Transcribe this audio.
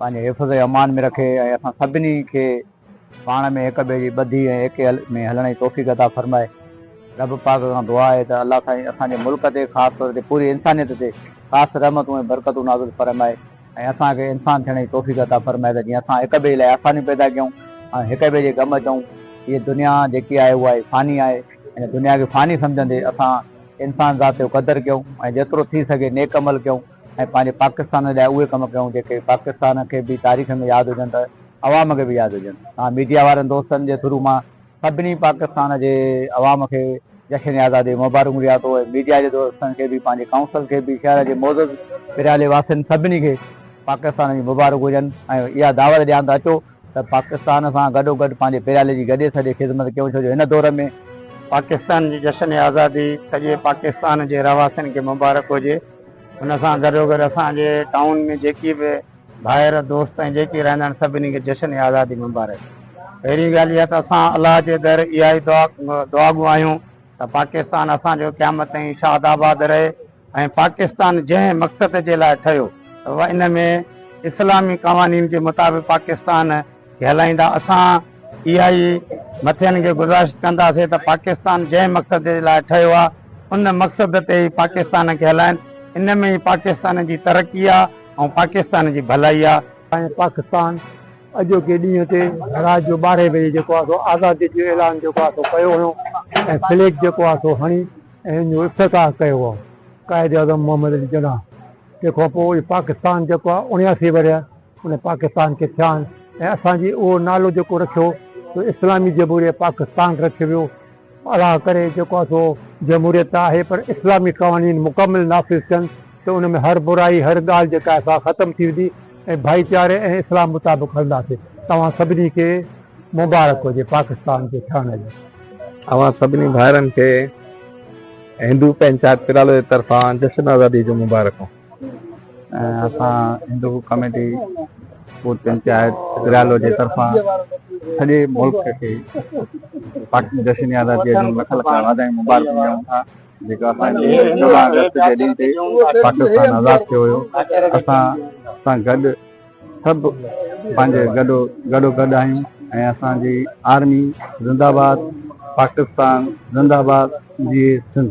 پنهنجي حفظ امان ۾ رکي ۽ اسان سڀني کي پاڻ ۾ هڪ ٻئي جي ٻڌي ۽ ايڪي ۾ هلڻ جي توفيق عطا فرمائي. رب پاڪ کان دعا آهي ته الله سائين اسان جي ملڪ تي خاص طور تي پوري انسانيت تي خاص رحمتون ۽ برڪتون نازل فرمائي ۽ اسان کي انسان ٿيڻ جي توفيق عطا فرمائي ته جيئن اسان هڪ ٻئي لاء آسانيون پيدا ڪيون ۽ هڪ ٻئي جي غم اچون. هيء دنيا جيڪي آهي اها ئي فاني آهي. ان دنيا کي فاني سمجهندي اسان انسان ذات جو قدر ڪيون ۽ جيترو ٿي سگهي نيڪ عمل ڪيون. ۽ پنهنجي پاڪستان لاء اهي ڪم ڪيون جيڪي پاڪستان کي به تاريخ ۾ ياد هجن ته عوام کي به ياد هجن ها ميڊيا وارن دوستن جي ٿرو مان سڀني پاڪستان جي عوام کي جشن آزادي مبارڪون ڏيان ٿو ۽ ميڊيا جي دوستن کي به پنهنجي ڪائونسل کي به شهر جي معزز پريالي واسين سڀني کي پاڪستان جي مبارڪ هجن ۽ اها دعوت ڏيان ته اچو ته پاڪستان سان گڏو گڏ پنهنجي پريالي جي گڏي سڏي خدمت ڪيون ڇو جو هن دور ۾ پاڪستان جي جشن آزادي سڄي پاڪستان جي رهواسين کي مبارڪ هجي. ان سان گڏوگڏ اسان جي ٽائون ۾ جيڪي به ڀائر دوست ۽ جيڪي رهندا آهن سڀني کي جشن آزادي مبارڪ پهرين ڳالهه اها ته اسان الله جي در اها ئي دعا دعاگو آهيون ته پاڪستان اسان جو قيامت تائين شاد آباد رهي ۽ پاڪستان جنهن مقصد جي لاء ٺهيو ته ان ۾ اسلامي قوانين جي مطابق پاڪستان ڪهلائيندا اسان اها ئي مٿين کي گذارش ڪنداسين ته پاڪستان جنهن مقصد جي لاء ٺهيو آهي ان مقصد تي ئي پاڪستان کي هلائين ان ۾ ئي پاڪستان جي ترقي آهي ۽ پاڪستان جي ڀلائي آهي. سائين پاڪستان اڄوڪي ڏينهن تي رات جو ٻارهين بجي جيڪو آهي سو آزادي جو اعلان جيڪو آهي سو ڪيو هيو ۽ فليڪ جيڪو آهي سو هڻي ۽ ان جو افتتاح ڪيو هو قائد اعظم محمد علي جناح تنهن کان پوء پاڪستان جيڪو آهي اڻياسي ورهيه ان پاڪستان کي ٿيان ۽ اسان جي اهو نالو جيڪو رکيو سو اسلامي جمهوريه پاڪستان رکيو ويو الله ڪري جيڪو آهي سو جمهوريت ته آهي پر اسلامي قوانين مڪمل نافذ ٿين ته ان ۾ هر برائي هر ڳالهه جيڪا آهي سا ختم ٿي ويندي ۽ ڀائيچاري ۽ اسلام مطابق هلنداسين توهان سڀني کي مبارڪ هجي پاڪستان جي ٿيڻ جي اوهان سڀني ڀائرن کي هندو پنچائت پرالو جي طرفان جشن آزادي جون مبارڪون ۽ اسان هندو ڪميٽي بوت پنچائت گريالو جي طرفان سڄي ملڪ کي پاڪستان جشن آزادي جون لک لک واڌايون مبارڪون ڏيون ٿا جيڪا اسان جي چوڏهن اگست جي ڏينهن تي پاڪستان آزاد ٿيو هيو اسان سان گڏ سڀ پنهنجي گڏو گڏو گڏ آهيون ۽ اسان جي آرمي زنده آباد پاڪستان زنده آباد جي سنڌ